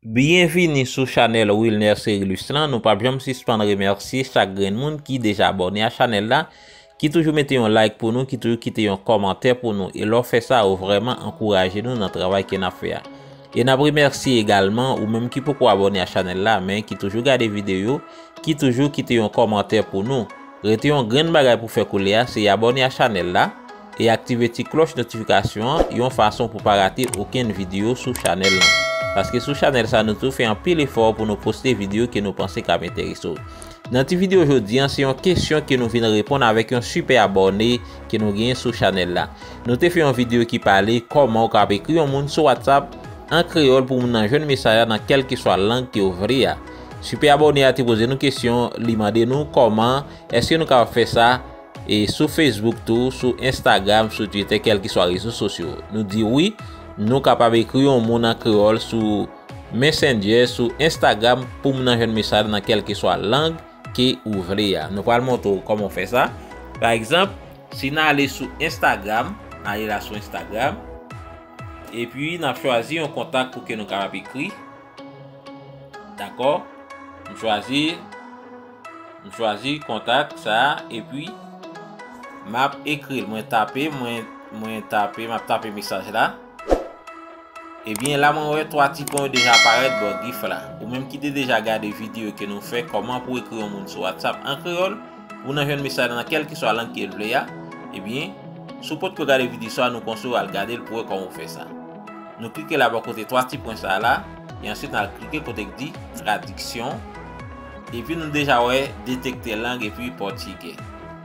Byenvini sou chanèl Wilner Cerilus lan, nou pap janm sispann remèsye chak grenn moun ki deja abòne a chanèl la, ki toujou mete yon like pou nou, ki toujou kite yon kòmantè pou nou, e lè w fè sa ou vrèman ankouraje nou nan travay ke nap fè a. E nap remèsye egalman ou menm ki poko abòne a chanèl la men ki toujou gade videyo, ki toujou kite yon kòmantè pou nou. Rete yon grenn bagay pou fè koulè a se abòne a chanèl la e aktive ti klòch notifikasyon an yon fason pou pa rate okenn videyo sou chanèl lan. Paske sou chanèl sa nou tou fè anpil efò pou nou poste videyo ke nou panse kab enterese w. Nan ti videyo jodi an se yon kesyon ke nou vin reponn avèk yon sipè abòne ke nou genyen sou chanèl la. Nou te fè yon videyo ki pale kòman ou kab ekri yon moun sou WhatsApp an kreyòl pou moun nan jwenn mesaj la nan kèlkeswa lang ke ou vle a. Super abonné a te poze nou kesyon, li mande nou kòman, eske nou kapab fè sa, e sou Facebook tou, sou Instagram, sou Twitter, kelkeswa rezo sosyo. Nou di wi, nou kapab ekri yon moun an kreyòl sou Messenger, sou Instagram, pou moun nan jwenn mesaj nan kelkeswa lang ke ou vle a. Nou pral montre ou kòman ou fè sa. Pa egzanp, si nan ale sou Instagram, nan ale la sou Instagram, epi nan chwazi yon kontak pou ke nou kapab ekri. Dakò, m chwazi, m chwazi kontak sa a epi m ap ekri l. Mwen tape, mwen, mwen tape, m ap tape mesaj la. Ebyen la mwen wè 3 ti pwen yo deja parèt bò gif la. Ou menm ki te deja gade videyo ke nou fè kòman pou ekri yon moun sou WhatsApp an kreyòl pou nan jwenn mesaj nan kèlke swa lang ke l vle a, ebyen si w potko gade videyo sa a nou konseyew al gade l pou wè kòman ou fè sa. Nou klike la bò kote 3 ti pwen sa a la, e ansuit nal klike kote k di tradiksyon, epi nou deja wè detekte lang epi pòtigè.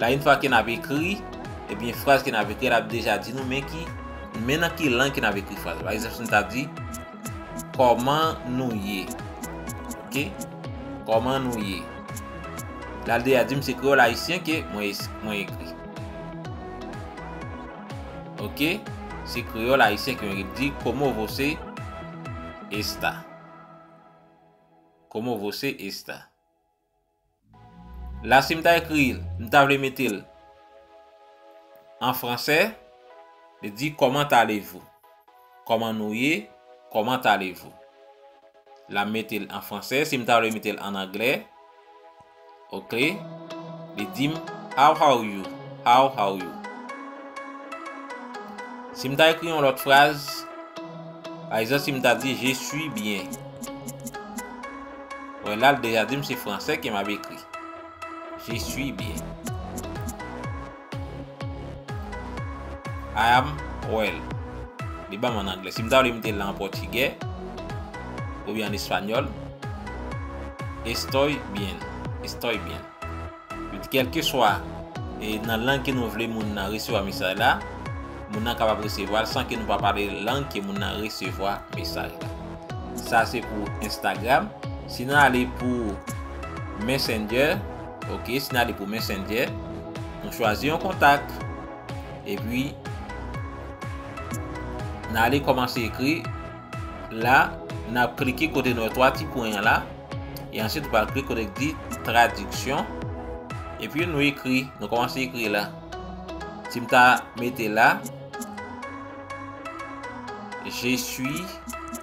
La yn fwa ke nap ekri, ebyen fraz ke nap ekri lap deja di nou men ki, men nan ki lang ke nap ekri fraz la. Pa egzanp si nou ta di, kòman nou ye? Ok, kòman nou ye? Lal deja dim se kreyòl ayisyen ke mwen ekri. Ok se kreyòl ayisyen ke yon rip di como você está como você está la si m ta ekri l m ta vle mete l an fransè li di comment allez vous comment nou ye comment allez vous La m mete l an fransè. Si m ta vle mete l an anglè. Ok. Li di m, How how you? How how you? Si m ta ekri yon lòt fraz. Pa egzanp, si m ta di, Je suis bien. Wè la, l deja di m se fransè ke m ap ekri. Je suis bien. I am well. Li banm an anglè. Si m ta vle m te la an pòtigè oubyen an espanyòl. Estoy bien. Estoy bien. Kèlkeswa e nan lang ke nou vle moun nan resevwa mesaj la, moun nan kapab resevwa l san ke nou pa pale lang ke moun nan resevwa mesaj la. Sa se pou Instagram. Si nou ale pou Messenger. Ok si nale pou messenger nou chwazi yon kontak epi nale komanse ekri la nap klike kote nou wè 3 ti pwen an la e ansi nou pral klike kote ki di tradiksyon epi nou ekri nou komanse ekri la si mta mete la je suis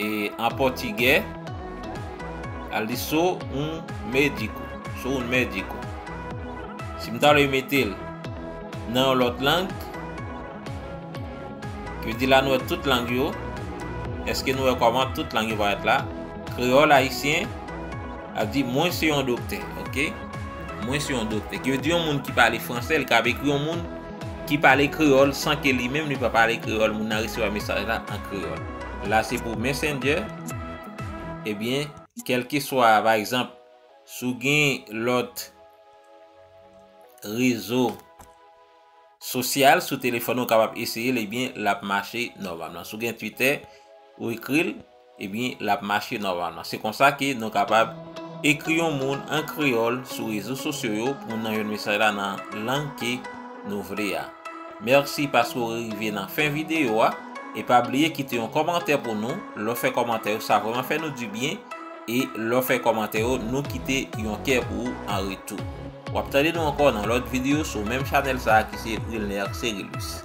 E an pòtigè, al di sou un médico, sou un médico. Si m ta vle mete l nan yon lòt lang, ki vle di la nou wè tout lang yo, eske nou wè kòman tout lang yo parèt la? Kreyòl ayisyen ap di mwen se yon doktè, ok? Mwen se yon doktè. Ki vle di yon moun ki pale fransè, li kab ekri yon moun Ki pale kreyòl san ke li menm li pa pale kreyòl moun nan resevwa mesaj la an kreyòl. La se pou Messenger, ebyen kèlkeswa pa egzanp si w gen lòt rezo sosyal sou telefòn ou kapab eseye l ebyen l ap mache nòmalman. Si w gen Twitter ou ekri l. Ebyen lap mache nòmalman. Se konsa ke nou kapab ekri yon moun an kreyòl sou rezo sosyo yo pou nou jwenn mesaj la nan lang ke nou vle a. Mèsi paske ou rive nan fen videyo a e pa bliye kite yon kòmantè pou nou. Lè w fè kòmantè yo sa vrèman fè nou di byen e lè w fè kòmantè yo nou kite yon kè pou ou an retou. Wap tande nou ankò nan lòt videyo sou menm chanèl sa ki se Wilner Cerilus.